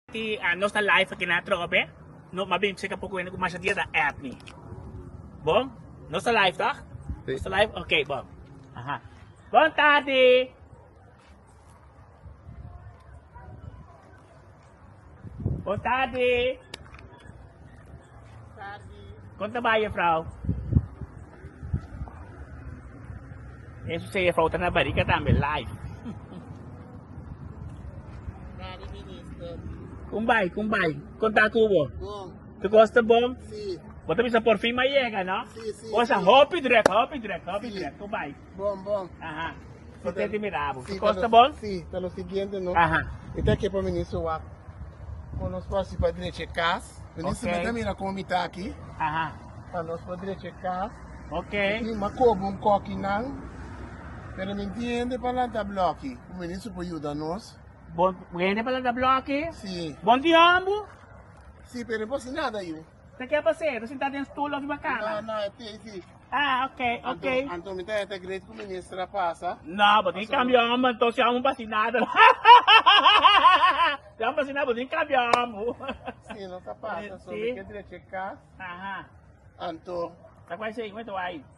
Ti nos ta live aki na troco be no mas bien checa poco hende cu masha dia ta add mi bon nos ta live toch si nos ta live ok bon aha bon tarde bon tarde Kon ta bai jefrouw? Eso si e jefrouw ta na barika tambe live. Gary Minister. Kon bai, kon bai. Kon ta kubo? Bon. Tu kos ta bon? Si. Bo ta bisa por fin ma yega, no? Si, si. Osa hopi druk, hopi druk, hopi druk. Kon bai. Bon bon. Aha. Su tenti mira abo. Su kos ta bon? Si, ta lo siguiente no. Aha. E ta ke pa mi ni su wak. Kon nos por hasi pa drecha e kas. Vení sibi ta mira komo mi ta aki. Aha. Pa nos por drecha e kas. Ok. Tin makobo un koki nan. Pero mi tin hende pa lanta bloki. Ku mi ni su por yuda nos. Bon, hende pa lanta bloki? Si. Bon tin hombu? Si, pero mi por hasi nada yu. Te kier pa sedu sinta den stul of riba kama? No, no, e tei di. Ah, ok, ok. Anto, anto mi ta hete great ku minister a pasa. No, bo tin kambia hombro, anto si amo pasi nada. si amo pasi nada, bo tin kambia hombro. si no ta pasa, so mi kier drechi e kas. Aha. Anto. Ta kwai sei, wente wai.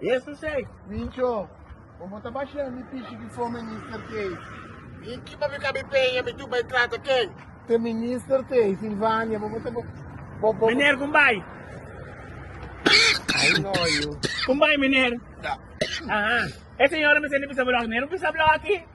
Jesus ei, Mincho, bo bo ta basha mi pichi bifo minister tei. Di ki bo mi ka bin peña mi tur bai trata ken? Te minister tei, Silvania, bo bo ta bo bo bo. Meneer con bai. Ai no yu. Con bai meneer. Da. Aha. E señora mi sende bisa bo lak, meneer bo bisa blok aki.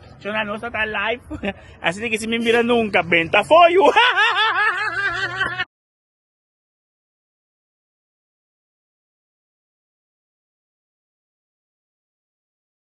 Chona nos a ta live. Asina ke si mi mira nunka benta afoyu.